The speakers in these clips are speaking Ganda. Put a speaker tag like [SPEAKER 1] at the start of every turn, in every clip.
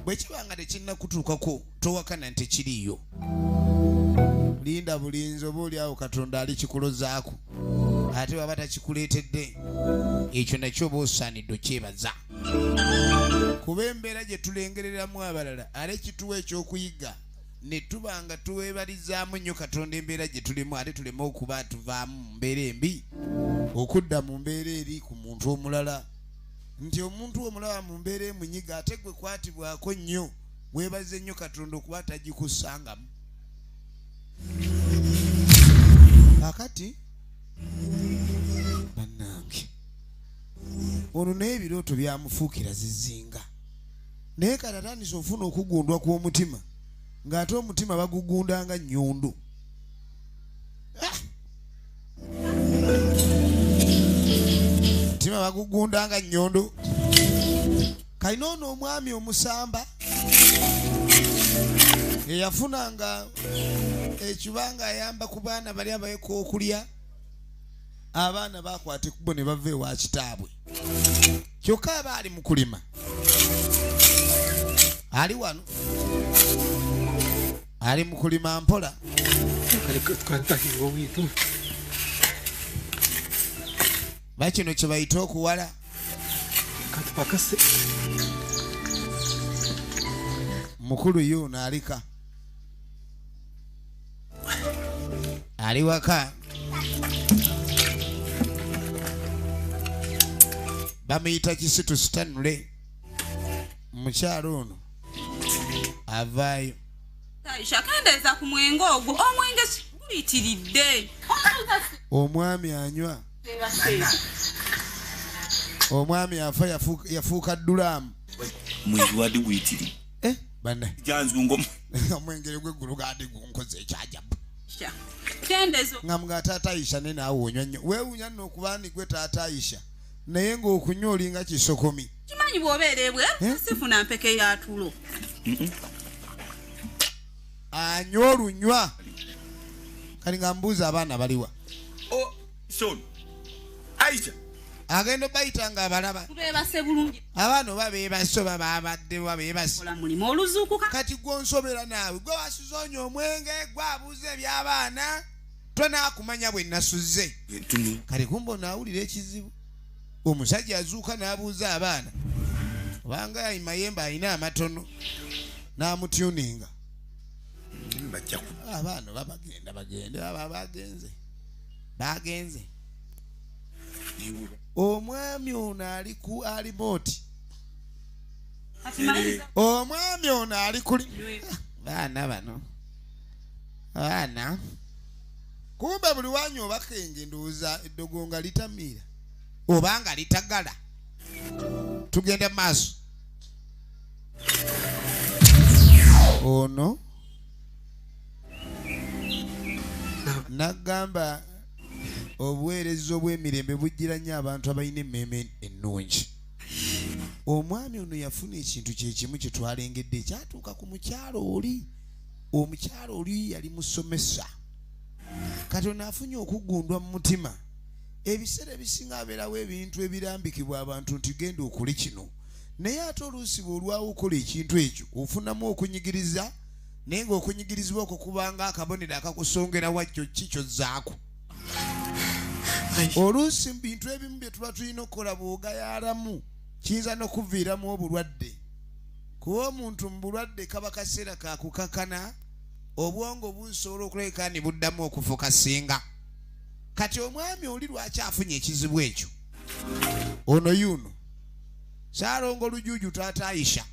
[SPEAKER 1] bwe kiba nga tekinnakutuukako towakana nti kiriiyo linda bulinzi oba oli awo katonda ali kikulozaako ate baba takikuleetedde ekyo nakyo oba osaanidde okyebaza kuba embeera gye tulengereramu abalala ate kituwa ekyokuyiga ne tuba nga tuweebalizaamu nnyo katonda embeera gye tulimu ate tuleme okuba tuvaamu mu mbeera embi okudda mu mbeera eri ku muntu omulala nti omuntu omulaba mu mbeera emunyiga ate gwe kwatibwako nnyo weebaze nnyo katonda okuba tagikusangamu kakati bannange ono naye ebirooto byamufuukira zizinga naye kati atandise ofuna okugundwa kw'omutima ng'ate omutima bagugundanga nyundu mutima bagugunda nga nyondo kalina ono omwami omusamba eyafunanga ekiba nga ayamba ku baana bali abayeka okulya abaana bakwata ekubo ne bava ewa kitaabwe kyokka aba ali mu kulima ali wano ali mu kulima mpola bakino kye bayita okuwala mukulu yuno alika ali waka bamuyita kisitu sitanule mukyalo ono avaayo
[SPEAKER 2] akendeeza ku mwenge ogwo omwenge guyitiridde
[SPEAKER 1] omwami anywa omwami afa yafuuka dulaamu mwezi
[SPEAKER 3] wadi guyitiri eh? omwengere
[SPEAKER 1] gweggulu gadi gunkoze ekyajabu
[SPEAKER 2] nga mga taata
[SPEAKER 1] ayisha ne naawe onywa nnyo weewunya nno okuba ndigwe taata ayisha naye ng'okunywa olinga kisokomi kimanyi bwobeera
[SPEAKER 2] ebweru eh? sifuna mpeke ya tulo
[SPEAKER 1] anywa olunywa kati nga mbuuza abaana baliwa
[SPEAKER 3] oh, agenda
[SPEAKER 1] obayita nga abalaba
[SPEAKER 2] abaana oba bebase
[SPEAKER 1] oba babadde oba bebasekati
[SPEAKER 2] gwonsobera
[SPEAKER 1] naawe gwe wasuzonya omwenge gwabuuza ebyabaana tonakumanya bwe nasuze kale kumba onaawulira ekizibu omusajja azuuka n'abuuza abaana obanga mayembe alina amatono n'amutuninga abaana oba bagenda bagende aba bagenze bagenze omwami ono ali ku alimooti omwami ono ali kuli baana bano baana kumbe buli wanyi obakenge ndowooza eddogo nga litamiira oba nga litagala tugende maaso ono nagamba obuweereza obw'emirembe bujjira nnyo abantu abalina emmeeme ennungi omwami ono yafuna ekintu kyekimu kyetwalengedde ekyatuuka ku mukyalo oli omukyalo oli yali musomesa kati ono afunye okugundwa mu mutima ebiseera ebisinga abeerawo ebintu ebirambikibwa abantu nti genda okole kino naye ate oluusi bwe olwawo okola ekintu ekyo ofunamu okunyigiriza naye ngaokunyigirizibwa okwo kubanga akabonero akakusongera wakyo ki kyozzaako oluusi mu bintu ebimu bye tuba tulina okukola bwogayalamu kiyinza n'okuviiramu obulwadde kuba omuntu mu bulwadde kaba kaseera kakukakana obwongo busobola okulabika ni buddamu okufuka singa kati omwami oli lwaki afunye ekizibu ekyo ono yuno salongo lujuju taata ayisha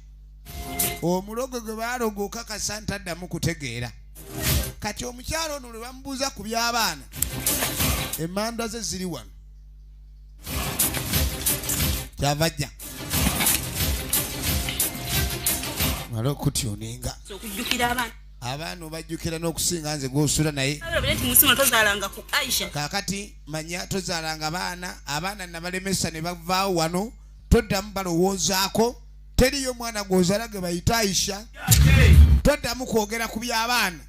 [SPEAKER 1] omulogo gwe baloga okakasa nti addamu kutegeera kati omukyalo ono lwe bamubuuza ku by'abaana emanda ze ziri wano kyava jja mala okutyoninga abaana obajjukira n'okusinga nze gw'osula naye kakati manya tozaalanga baana abaana nabalemesa ne bavaawo wano toddamu balowoozaako teriyo omwana gw'ozala ge bayita aisha toddamu kwogera ku by'abaana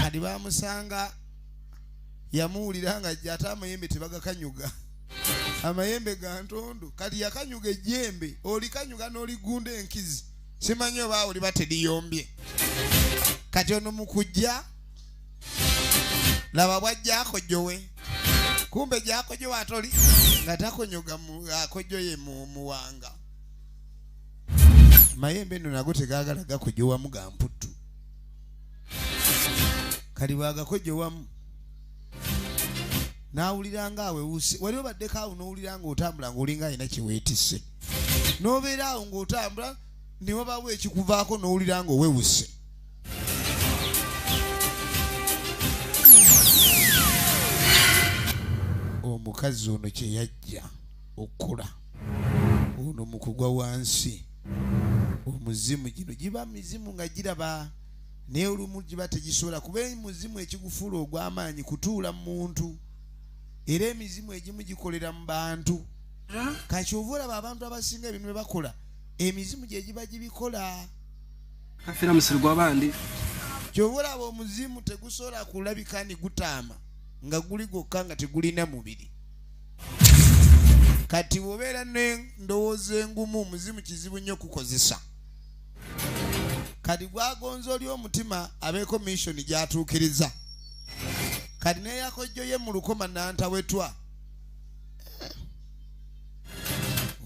[SPEAKER 1] kati bamusanga yamuwulira nga jja ate amayembe tebagakanyuga amayembe ga ntondo kati yakanyuga ejjembe olikanyuga n'oligunda enkizi simanyi oba awo liba teriyombye kati ono mukujja laba bwajjakojowe kumbe gyakojowe ate oli nga takonyoga akojoye muwanga mayembe no nago tegagala gakojowamu ga mputtu kali bwagakojowamu n'awulira nga awewuse wali obaddeko awo n'owulira nga otambula ng'olinga alina kyeweetise n'obeera awo ng'otambula ne wabawo ekikuvaako n'owulira ng'owewuse omukazi ono kye yajja okukula ono mu kugwa wansi omuzimu gino giba mizimu nga giraba naye olumu giba tegisobola kuba muzimu ekigufuula ogw'amaanyi kutuula mu muntu era emizimu egimu gikolera mu bantu kakyova olaba abantu abasinga ebintu bye bakola emizimu gye giba gibikola afera
[SPEAKER 4] musiri gwa bandi kyova
[SPEAKER 1] olaba omuzimu tegusobola kulabika ni gutaama nga guli gwokka nga tegulina mubiri kati bwobeera nendowooza engumu omuzimu kizibu nnyo okukozesa kati gwagonza oli omutima abeeko missioni gyatuukiriza kati neyakojjoye mu lukoma nantawetwa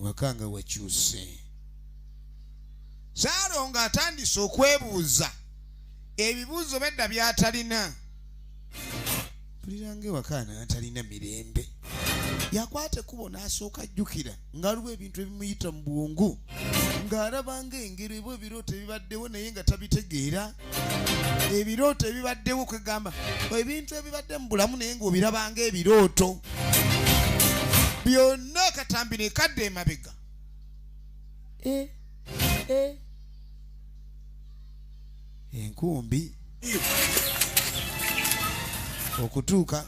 [SPEAKER 1] wakanga wakyuse saalo nga atandise okwebuuza ebibuuzo bedda byatalina mpuliranga ewaka natalina mirembe yakwata ekkubo n'asooka ajjukira ng'aliwo ebintu ebimuyita mu bwongu ng'alabanga engeri ebwa ebirooto ebibaddewo naye nga tabitegeera ebirooto ebibaddewo kwegamba ebintu ebibadde mu bulamu naye ngaobirabanga ebirooto byonna katambi nekadde emabega eh, eh. enkumbi okutuuka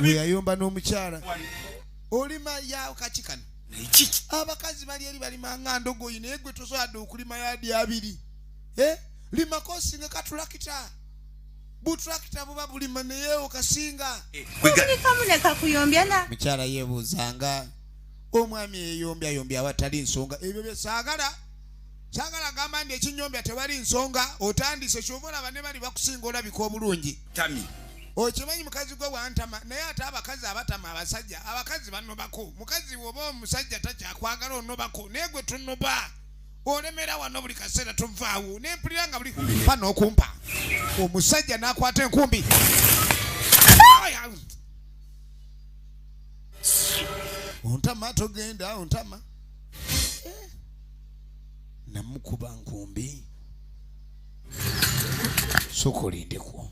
[SPEAKER 3] weyayomba
[SPEAKER 1] n'omukyala olima yawo kakikano abakazi bali eri balimanga ndogoyi naye gwe tosoboladde okulima yadi abiri eh? limako osinga katulakita butulakita buba bulima naye okasinga eh, mukyala yebuuzanga omwami eyeyombyayomby awatali nsonga ebyo byesagala sagala gamba nti ekinyombya tewali nsonga otandise kyova olaba ne bali bakusinga olabika obulungi tami okimanyi mukazi gwe wantama naye ate abakazi abatama abasajja abakazi banobako mukazi woba omusajja takyakwagala onobako naye gwe tunoba olemera wano buli kaseera tovaawo nempulira nga buli pa nokumpa omusajja nakwata enkumbi ontama togenda ontama eh. namukuba nkumbi sokolindeko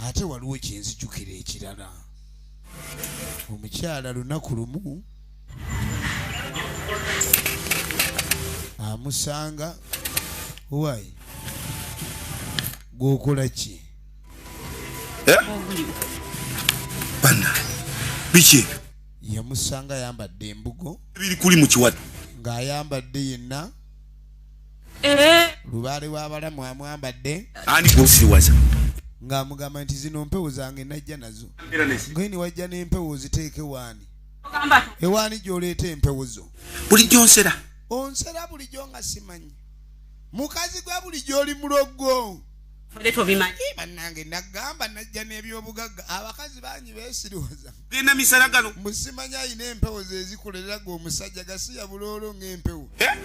[SPEAKER 1] ate waliwo kyenzijukira ekirala omukyala lunaku lumu amusanga owai gwokola ki eh?
[SPEAKER 3] biki ebyo yamusanga
[SPEAKER 1] ayambadde embugo biri kuli mu kiwata
[SPEAKER 3] ng'ayambadde
[SPEAKER 1] yenna eh. lubaale w'abalamu amwambadde ani gwosiriwaza
[SPEAKER 3] ng'amugamba
[SPEAKER 1] nti zino mpewo zange najja nazo ngaye ne wajja n'empewo oziteeke waani ewaani gy'oleeta empewo zo bulijjo nsera
[SPEAKER 3] onsera
[SPEAKER 1] bulijjo nga simanyi mukazi gwa bulijjo oli muloggo bannange nagamba najja n'ebyobugagga abakazi bangi beesiriwaza genda misala gano
[SPEAKER 3] musimanya alina empewo
[SPEAKER 1] zezikoleraga omusajja gasiya buloolo ngaempewo eh?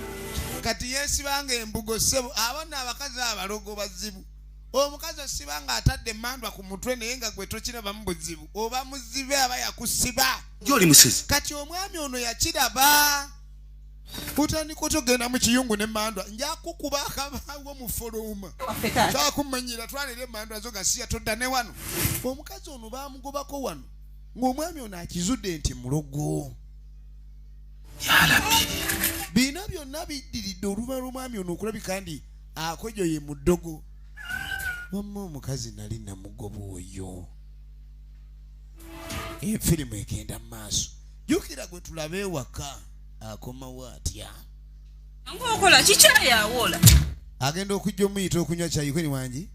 [SPEAKER 1] kati yesibanga embugo sebo abana abakazi abalogo bazibu omukazi osiba nga atadde emandwa ku mutwe naye nga gwe tokiraba mu buzibu oba muzibe aba yakusiba gyoli musizi
[SPEAKER 3] kati omwami ono
[SPEAKER 1] yakiraba kutandika otya okugenda mu kiyungu ne mandwa njakukuba akabawo mufuluma kyakumanyira twanira emandwa zo gasiya todda ne wano omukazi ono bamugobako wano ng'omwami ono akizudde nti mulogo yalabi biina byonna biddiridde oluvanyuma lwomwami ono okulabika ndi akojo ye muddogo wamma omukazi nali namugoba oyo efirimu egenda mu maaso jukira gwe tulabe ewaka akomawo atya ngokola
[SPEAKER 2] kikyayawola agenda
[SPEAKER 1] okujja omuyita okunywa kyayikweni wangi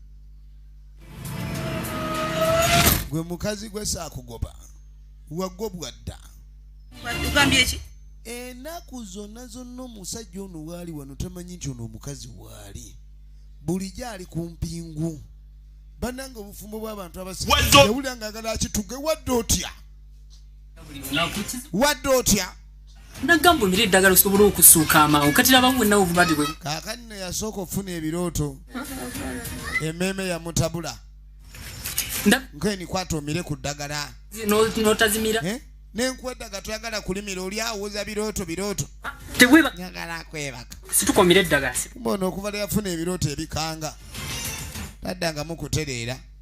[SPEAKER 1] gwe mukazi gwe saakugoba wagobwa dda enaku zonna zonna omusajja ono waali wano tamanyi nti ono omukazi waali bulijjo ali ku mpingu banange obufumbo bw'abantu abasiawulira nga agala akituge wadde otya wadde otya nagamba omira
[SPEAKER 5] eddagala osobole okusuuka amangu kati labamu wenawe obulwadde bwe kakati neyasooka
[SPEAKER 1] okufuna ebirooto emeeme yamutabula nkenikwata omire ku ddagala notazimira eh?
[SPEAKER 5] nenkweddaga
[SPEAKER 1] toyagala kulimira oli awoza birooto birooto nyagala akwebaka situkomira eddagala
[SPEAKER 5] mbona okuva leyafuna
[SPEAKER 1] ebirooto ebikanga taddangamu kutereera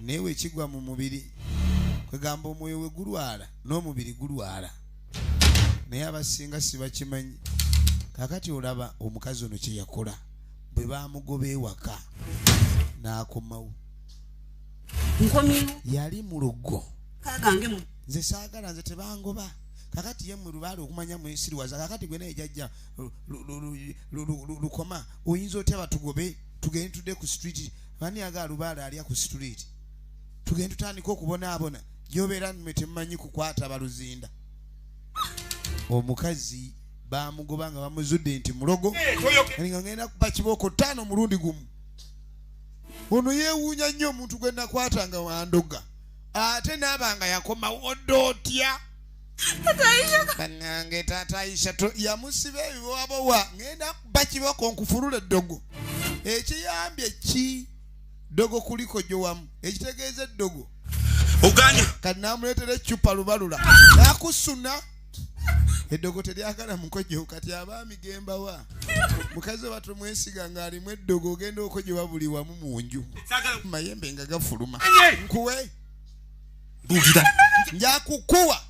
[SPEAKER 1] naye wekigwa mu mubiri kwegamba omwoyo we gulwala n'omubiri gulwala naye abasinga sibakimanyi kakati olaba omukazi ono kyeyakola bwe bamugoba ewaka n'akomawo yali mu luggo nze saagala nze tebangoba kakati ye mulubaale okumanya mwesiriwaza kakati gwe naye jajja lukoma oyinza otya batugobe tugende tudde ku street mani yaga alubaale alya ku situliiti tugende tutandika okubonaabona gyobeera nmwe temumanyi kukwata baluzinda omukazi bamugoba nga bamuzudde nti mulogo eh, nga ngenda kuba kibooko ttaano mulundi gumu ono yewuunya nnyo omuntu gwe nakwata nga wandoga ate naaba nga yakomawo dda otya banange taata aisha yamusiba ebibowabowa ngenda kuba kiboko nkufulula eddogo ekiyambye ki ddogo kuliko gyo wamu ekitegeeza eddogo oganya
[SPEAKER 3] kati namuleetera
[SPEAKER 1] eccupa lubalula nakusuna eddogo teryagala mukojo kati abaami gembawa mukazi oba tumwesiga ng'alimu eddogo ogenda okojoba buli wamu mu nju mayembe nga gafuluma nkuwe bulira njakukuwa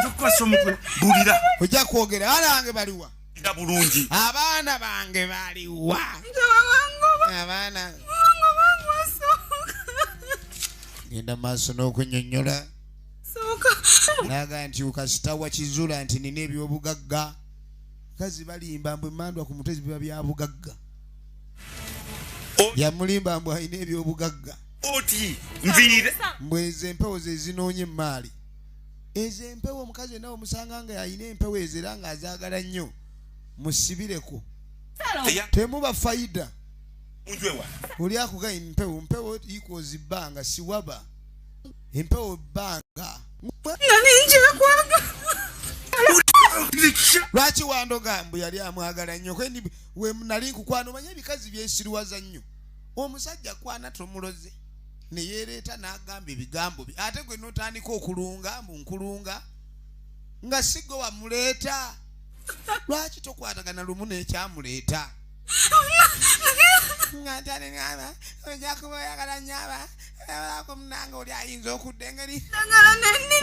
[SPEAKER 1] njakukwasa omutwe bulira ojja kwogera abaana bange baliwa nda bulungi
[SPEAKER 3] abaana bange
[SPEAKER 1] baliwa abaana genda maaso n'okunyonyola naga nti kasita wakizula nti nina ebyobugagga kazi balimba mbu emandwa ku mutwe zibiba byabugagga yamulimba mbu alina ebyobugagga oti
[SPEAKER 3] nviire mbu ezo empewo
[SPEAKER 1] zezinoonya emmaali ezo empewo omukazi enawe omusanga nga yalina empewo ezo era nga azaagala nnyo musibireko temuba faida oli akuga empewo mpewo equals bbanga siwaba empewo bbanga lwaki wandoga mbu yali amwagala nnyo nali nkukwana omanye ebikazi byensiriwaza nnyo omusajja kwana tomuloze neyereeta nagamba ebigambo bye ate gwe notandika okulunga mbu nkulunga nga sigwe wamuleeta lwaki tokwatagana lumu nekyamuleeta nga ntani nyaba oja kuba oyagala nyaba alako munange oli ayinza okudda engeri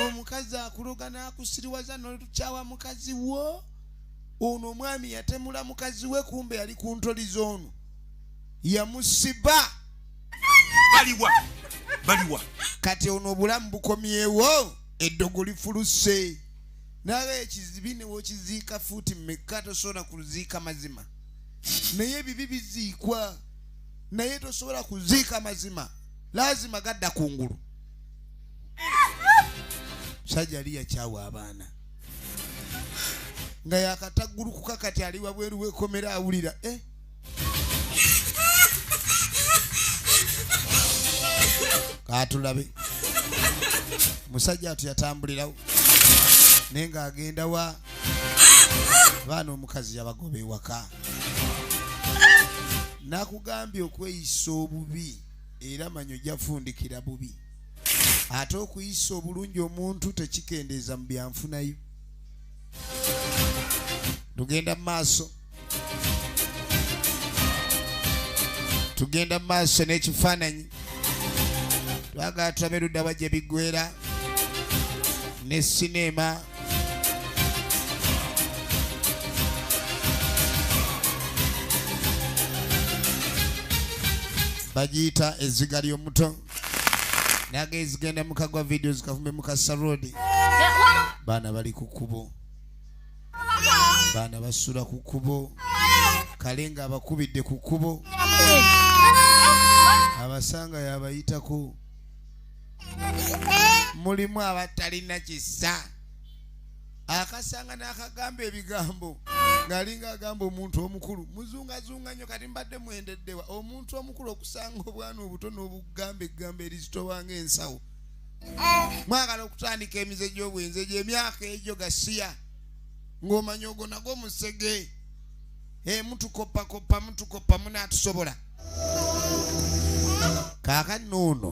[SPEAKER 1] omukazi akuloga nakusiriwaza notukyawa mukazi wo ono omwami yatemula mukazi we kumbe yali kuntoli zoono yamusiba baliwa
[SPEAKER 3] baliwa kati ono
[SPEAKER 1] obulamu bukomyewo eddogo lifuluse naye ekizibi newokiziika fuuti mekka tosobola kuziika mazima naye ebibi biziikwa naye tosobola kuziika mazima lazima gadda ku ngulu musajja ali yakyawa abaana nga yakataggulukuka kati ali wabweru wekomera awulira eh? katulabe musajja atu yatambulirawo naye ng'agenda wa baana omukazi yabagoba ewaka nakugambye okweyisa obubi era manyi ojafundikira bubi ate okuyisa obulungi omuntu tekikendeeza mu byanfunayo tugenda mu maaso tugenda mu maaso n'ekifaananyi twagala tulabe ludda bajja biggwera ne sineema bagiyita ezziga ly'omuto naga ezigenda mukagwa vidiyo zikavume mukasa rodi baana bali ku kkubo baana basula ku kkubo kale nga abakubidde ku kkubo abasanga yabayitako mulimu abatalina kisa akasanga n'akagamba ebigambo ng'alinga agamba omuntu omukulu muzungazunga nnyo kati mbadde mwendeddewa omuntu omukulu okusanga obwana obuto n'obugamba eggambo erizitowa ng'ensawo mwagala okutandika emize gy'obwenzi egyo emyaka egyo gasiya ng'omanya ogwo nagwo musege eh, mutukoppakoppa mutukoppa munaatusobola kaakati noono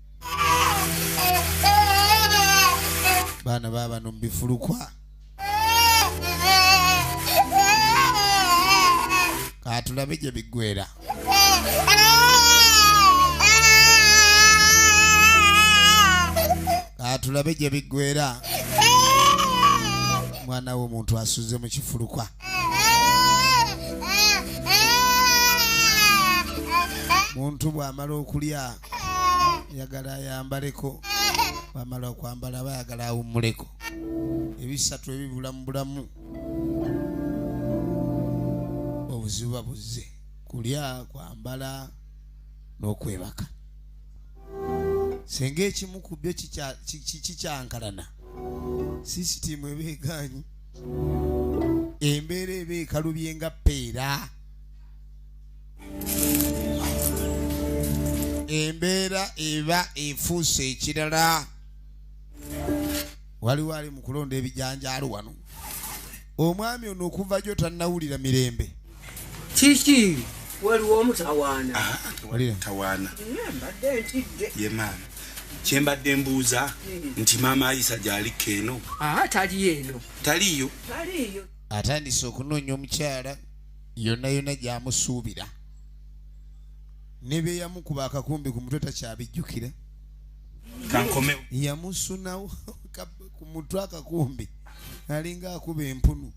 [SPEAKER 1] baana babano mubifulukwa katulabe gye biggwera katulabe gye biggwera mwana we omuntu asuze mu kifulukwa muntu bw'amala okulya yagala ayambaleko bamala okwambala aba yagala awummuleko ebisatu ebibula mu bulamu obuzibu babuzze kulya kwambala n'okwebaka senga ekimu ku byo kikyankalana sisitiimu eba egaanyi embeera eba ekalubye nga peera embeera eba efuuse ekirala waliwo ali mu kulonda ebijanjaalo wano omwami ono okuva gyo tannawulira mirembe kiki
[SPEAKER 5] waliwo omutawaana ah, tawaana
[SPEAKER 3] mbadde ntidde ye maama kyembadde mbuuza hmm. nti maama ayisa gyalikka eno ah, taliyo eno taliyo atandise okunoonya omukyala yonna yonna gyamusuubira ne bye yamukuba akakumbi ku mutwe takyabijjukira kankomewo yamusunawo ku mutwe akakumbi alinga akuba empunu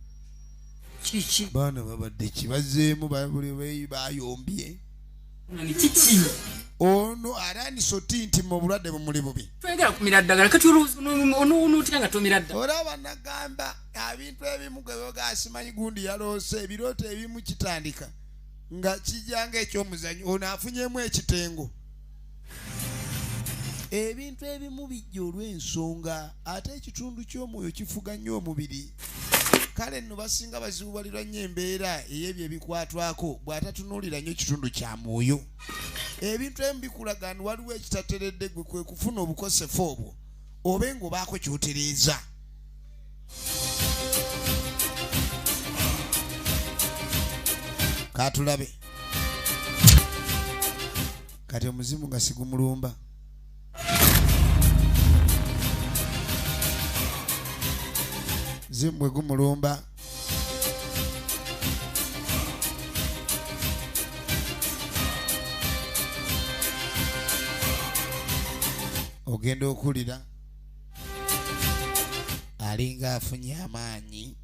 [SPEAKER 3] kiki baana babadde kibazeemu bayombye kiki ono arandise oti nti mu obulwadde bumuli bubi twegera kumira ddagala
[SPEAKER 5] kati olowooza onowoona otya nga tomira ddala olaba nagamba
[SPEAKER 1] abintu ebimu gwewoga asimanyi gundi yaloose ebirooto ebimu kitandika nga kijanga ekyomuzanyo ono afunyemu ekitengo ebintu ebimu bijja olw'ensonga ate ekitundu ky'omwoyo kifuga nnyo omubiri kale nno basinga bazibubalirwa nnyo embeera ey'ebyo ebikwatwako bw'atatunuulira nnyo ekitundu kya mwoyo ebintu ebimu bikulaga ni waliwo ekitateredde gwe kwe kufuna obukosefu obwo obe ng'obaako ky'otereeza katulabe kati omuzimu nga sigumulumba zimu bwe gumulumba ogenda okuwulira alinga afunye amaanyi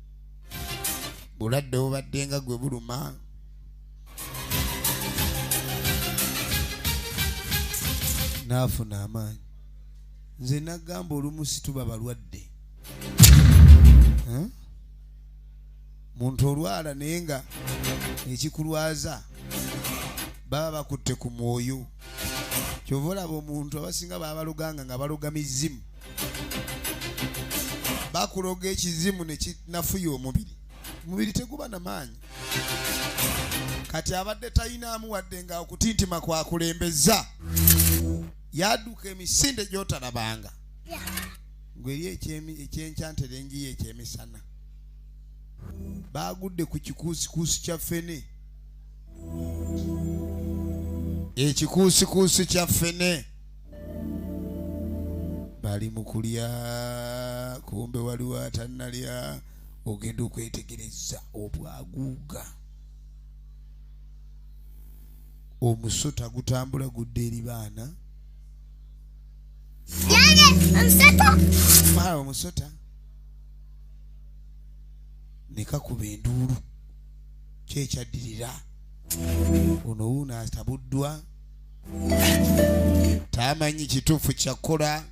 [SPEAKER 1] bulwadde obubadde nga gwe buluma n'afuna amaanyi nze nagamba olumu situba balwadde muntu olwala naye nga ekikulwaza baba bakutte ku mwoyo kyova olaba omuntu abasinga babaluganga nga baloga mizimu bakuloga ekizimu nekinafuya omubiri omubiri teguba na maanyi kati abadde tayinaamu wadde nga okutintima kwakulembeza yaduka emisinde gyotalabanga ngweri ekyenkyanterengiyo ekyemisana bagudde ku kikuusikuusi kya fene ekikuusikuusi kya ffene bali mu kulya kumbe waliwo atannalya ogenda okwetegereza obwaguuga omusota gutambula gudde eri baana omusota nekakuba enduulu kyekyaddirira ono wuuno atabuddwa tamanyi kituufu kyakkola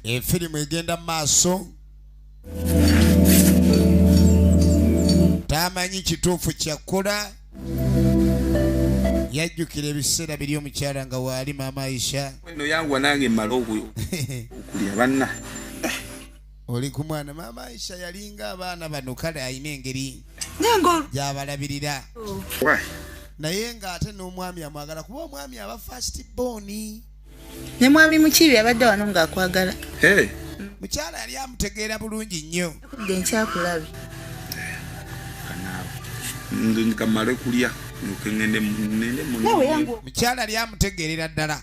[SPEAKER 1] efirimu egenda mu maaso tamanyi kituufu kyakkola yajjukira ebiseera biri omukyala nga waali maama aisha no yanguwa nange
[SPEAKER 3] mala okulya banna
[SPEAKER 1] oli ku mwana maama aisha yalinga abaana bano kale alina engeri gyabalabirira naye ng'ate n'omwami amwagala kuba omwami aba fast boni ne
[SPEAKER 6] mwami mukiibi abadde wano ng'akwagala
[SPEAKER 1] mukyala yali amutegeera bulungi nnyo kudde nkyakulabe
[SPEAKER 3] kamale kulya
[SPEAKER 1] mukyala lyamutegeerera ddala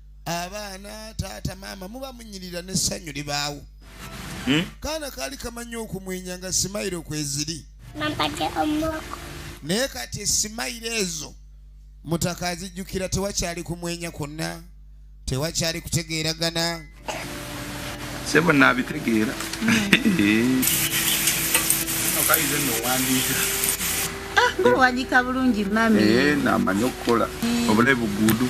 [SPEAKER 1] abaana taata maama muba munyirira n'essanyu libaawo hmm? kaana kaali kamanyi okumwenya nga simayiro kweziri naye kati esimayiro ezo mutaka azijjukira tewakyali kumwenya kwonna tewakyali kutegeeragana
[SPEAKER 3] sebo naabitegeera hmm. ah, owandiika
[SPEAKER 6] bulungi mami eh, namanyi okukola
[SPEAKER 3] obulayi buguudu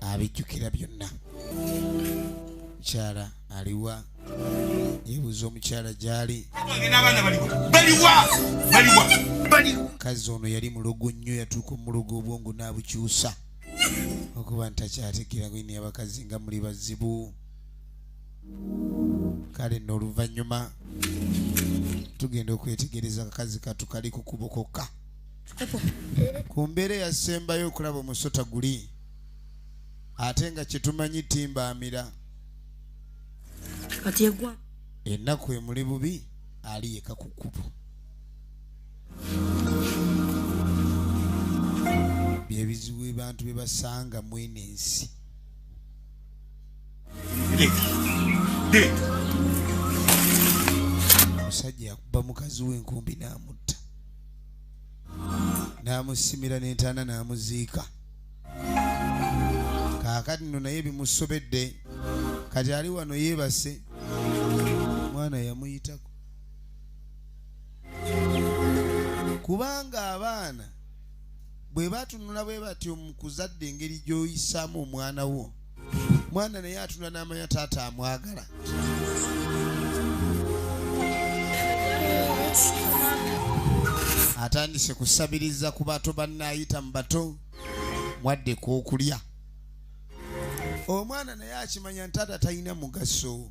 [SPEAKER 1] abijjukira byonna mukyala aliwa yebuuza omukyala gyali kazi ono yali mulogo nnyo yatuuka omulogo obwongo n'abukyusa okuba ntakyategeera gwe neyabakazi nga muli bazibu kale nno oluvannyuma tugenda okwetegereza akakazi katu kali ku kubo kokka ku mbeera eyasembayo okulaba omusota guli ate nga kyetumanyi timbaamira
[SPEAKER 2] ennaku emuli
[SPEAKER 1] bubi ali yeka ku kkubo byebizibu ebantu bye basanga mwene ensi omusajja yakuba mukazi wenkumbi n'amutta n'amusimira n'entaana n'amuziika kaakati no naye bimusobedde kati ali wano yeebase omwana yamuyitako kubanga abaana bwe batunula bwe batyo mu kuzadde engeri gy'oyisaamu omwana wo mwana naye atunula n'amanya taata amwagala atandise kusabiriza ku bato bannaayita mu bato mwadde ku okulya omwana naye akimanya ntaata talina mugaso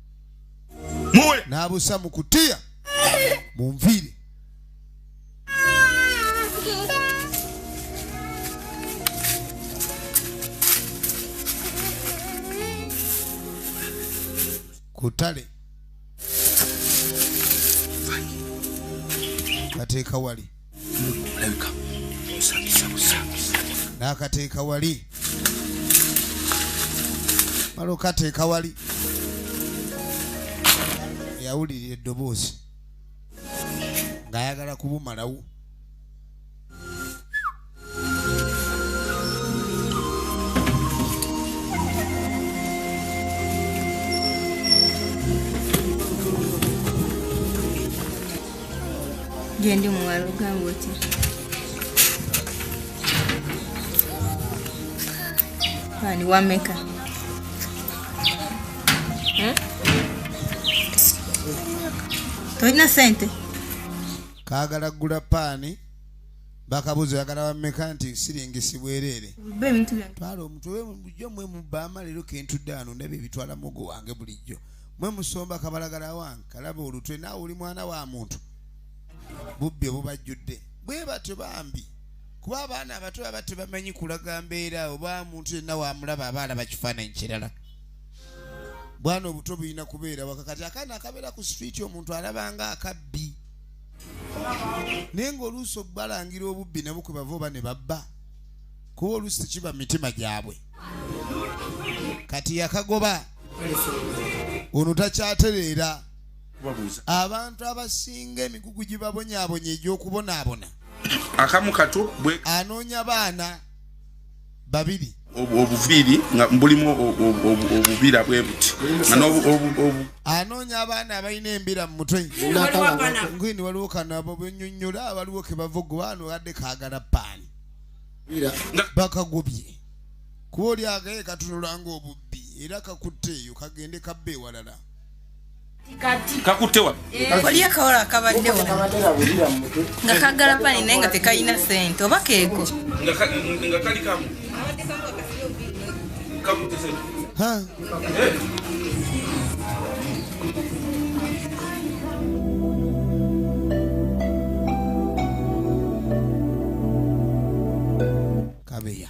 [SPEAKER 1] muwe n'abusa mu kutiya munviire kutale kateeka wali
[SPEAKER 3] nakateeka
[SPEAKER 1] wali mala okateeka wali yawulirira eddoboozi ng'ayagala kubumalawo
[SPEAKER 6] gyendi muwala ogamba otya ani wameka tolina sente
[SPEAKER 1] kaagala gula paani bakabuzo yagala bameka nti siringi sibwerere twala
[SPEAKER 6] omutwe bulijjo
[SPEAKER 1] mwe mubama leero kentudde ano ndaba ebitwala mugo wange bulijjo mwe musomba kabalagala wange kalaba olutwe naawe oli mwana wa muntu bubbi obubajjudde bwe batyo bambi kuba abaana abato aba tebamanyi kulaga mbeera oba muntu yenna wamulaba aba alaba kifaananyi kirala bwana obuto bulina kubeera wakakati akaana akabeera ku sitriiti omuntu alabanga akabbi naye ng'oluusi okubalangira obubbi ne bukwe bava oba ne babba kuba oluusi tekiba mu mitima gyabwe kati yakagoba ono takyatereera abantu abasinga emigugu gibabonyabonya egy'okubonaabona akamu
[SPEAKER 3] kato bwe anoonya baana
[SPEAKER 1] babiri obuviiri
[SPEAKER 3] nga bulimu obubira bwe buti anoonya abaana abalina
[SPEAKER 1] embira mu mutwe ngini waliwo kano abo benyonyola waliwo kebavugubaano adde kagala paani bakagobye kuba oli agaye katunulanga obubbi era kakutte eyo kagende kabba ewalala kakutte
[SPEAKER 3] wa waliyo akawala
[SPEAKER 6] akabadde nga kagala pani naye nga tekalina sente oba keeko
[SPEAKER 1] kabeya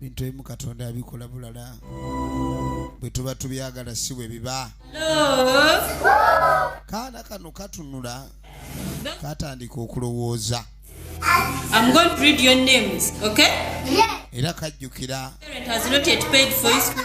[SPEAKER 1] bintu ebimu katonda abikola bulala bwe tuba tubyagala si bwe biba kaana kano katunula katandika okulowooza
[SPEAKER 2] I'm going to read your names, okay? Yeah. Era
[SPEAKER 1] kajjukira. Parent has not yet
[SPEAKER 2] paid for his school.